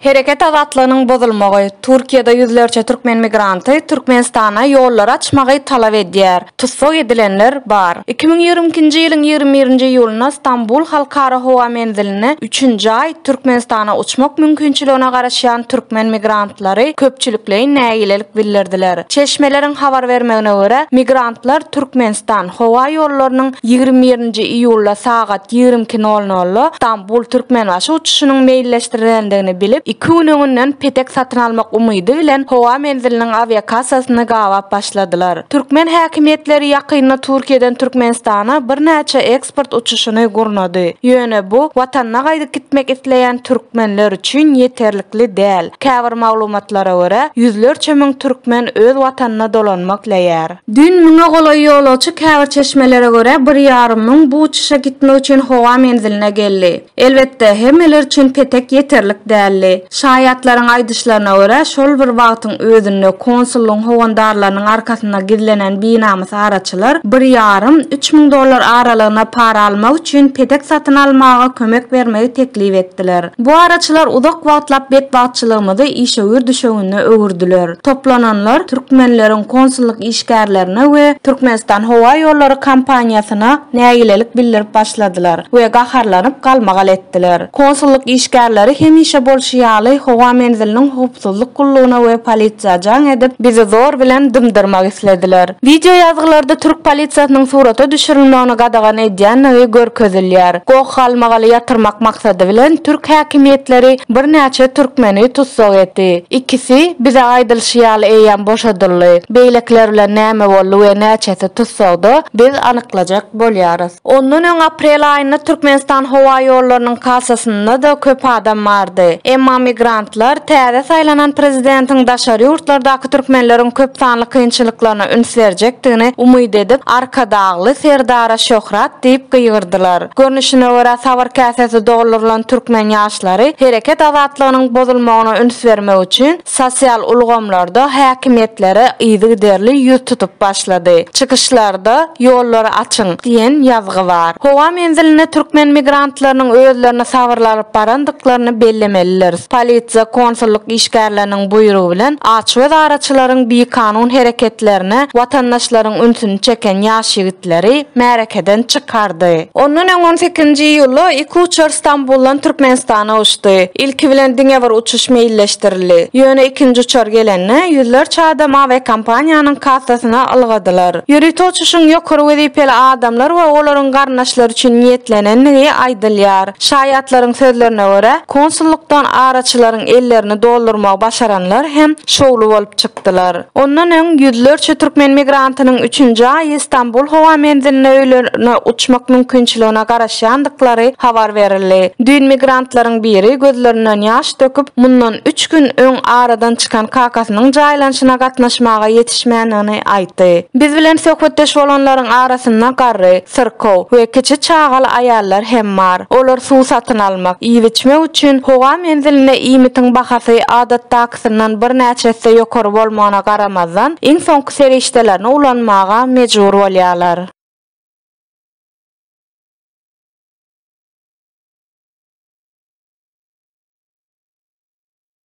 Hereket azatlygynyň bozulmagy, Türkiýede ýüzlerçe türkmen migranty Türkmenistana ýollary açmagy talap edýär. Tussag edilenler bar. Iki müň ýigrimi ikinji ýylyň ýigrimi birinji iýulynda Stambul halkara howa menziline üçünji aý Türkmenistana uçmak mümkinçiligine garaşýan türkmen migranty migrantlary köpçülikleýin nägilelik bildirdiler. Çeşmeleriň habar bermegine görä, migrantlar Türkmenistan howa ýollarynyň ýigrimi birinji iýulda sagat ýigrimi iki nol nolda Stambul, Türkmenbaşy uçuşynyň meýilleşdirilendigini bilip, iki gün öňünden petek satyn almak umydy bilen howa menziliniň awiakassasyny gabap başladylar. Türkmen häkimiýetleri ýakynda Türkiýeden Türkmenistana birnäçe eks. pasport uçuşyny gurnady. Ýöne bu Watanyna gaýdyp gitmek isleýän türkmenler üçin ýeterlikli däl. Käbir maglumatlara görä, ýüzlerçe müň türkmen öz Watanyna dolanmak isleýär. Düýn müňe golaý ýolagçy käbir çeşmelere görä bir ýarym müň bu uçuşa gitmek üçin howa menziline geldi. Elbetde, hemmeler üçin petek ýeterlik däldi. Şaýatlaryň aýdyşlaryna görä, şol bir wagtyň özünde konsullygyň howandarlarynyň arkasynda gizlenen binamys araçylar bir ýarym, üç müň dollar aralygyna para almak üçin petek satyn almaga kömek bermegi teklip etdiler. Bu araçylar uzak wagtlap betbagtçylygymyzy işewür düşewüne öwürdiler. Toplananlar türkmenleriň konsullyk işgärlerine we Türkmenistan howa ýollary kompaniýasyna nägilelik bildirip başladylar we gaharlanyp galmagal etdiler. Konsullyk işgärleri hemişe bolşy ýaly howa menziliniň howpsuzlyk gullugyna we polisiýa jaň edip, bizi zor bilen dymdyrmak islediler. Wideo ýazgylarda türk polisiýasynyň surata düşürilmegini gadagan edýändigi görkezilýär. Goh galmagaly ýatyrmak maksady bilen türk häkimiýetleri birnäçe türkmeni tussag etdi. Ikisi, bize aýdylyşy ýaly eýýäm boşadyldy. Beýlekiler bilen näme boldy we näçesi tussagda, biz anyklajak bolýarys. Ondan öň aprel aýynda Türkmenistan howa ýollarynyň kassasynda-da köp adam bardy. Emma migrantlar täze saýlanan prezidentiň daşary ýurtlardaky türkmenleriň köp sanly kynçylyklaryna üns berjekdigini umyt edip, Arkadagly Serdara şöhrat diýip gygyrdylar. Görnüşine görä, sabyr käsesi doldurylan türkmen ýaşlary hereket azatlygynyň bozulmagyna üns bermek üçin sosial ulgamlarda häkimiýetlere yzygiderli ýüz tutup başlady. Çykyşlarda Ýollary açyň! diýen ýazgy bar. Howa menzilinde türkmen migrantlarynyň özlerini sabyrly alyp barandyklaryny bellemelidiris. Polisiýa, konsullyk işgärleriniň buýrugy bilen açgöz araçylaryň bikanun hereketlerine watandaşlaryň ünsüni çeken ýaş ýigit, leri märekeden çykardy. Ondan öň on sekizinji iýulda iki uçar Stambuldan Türkmenistana uçdy. Ilki bilen diňe bir uçuş meýilleşdirildi. Ýöne ikinji uçar gelende, ýüzlerçe adam awiakompaniýanyň kassasyna ylgadylar. Ýörite uçuşyň ýokary wezipeli adamlar we olaryň garyndaşlary üçin niýetlenendigi aýdylýar. Şaýatlaryň sözlerine görä, konsullykdan araçylaryň ellerini doldurmagy başaranlar hem şowly bolup çykdy. çykdylar. Ondan öň ýüzlerçe türkmen migrantynyň üçünji aýy Stambul howa menziline öýlerine uçmak mümkinçiligine garaşýandyklary habar berildi. Düýn migrantlaryň biri gözlerinden ýaş döküp, mundan üç gün öň aradan çykan kakasynyň jaýlanyşyna gatnaşmaga ýetişmändigini aýtdy. Biz bilen söhbetdeş bolanlaryň arasynda garry, syrkaw we kiçi çagaly aýallar hem bar. Olar suw satyn almak, iýip-içmek üçin howa menzilinde iýmitiň bahasy adatdakysyndan birnäçe esse ýokary bolmagyna garamazdan, iň soňky serişdelerini ulanmaga mejbur bolýarlar.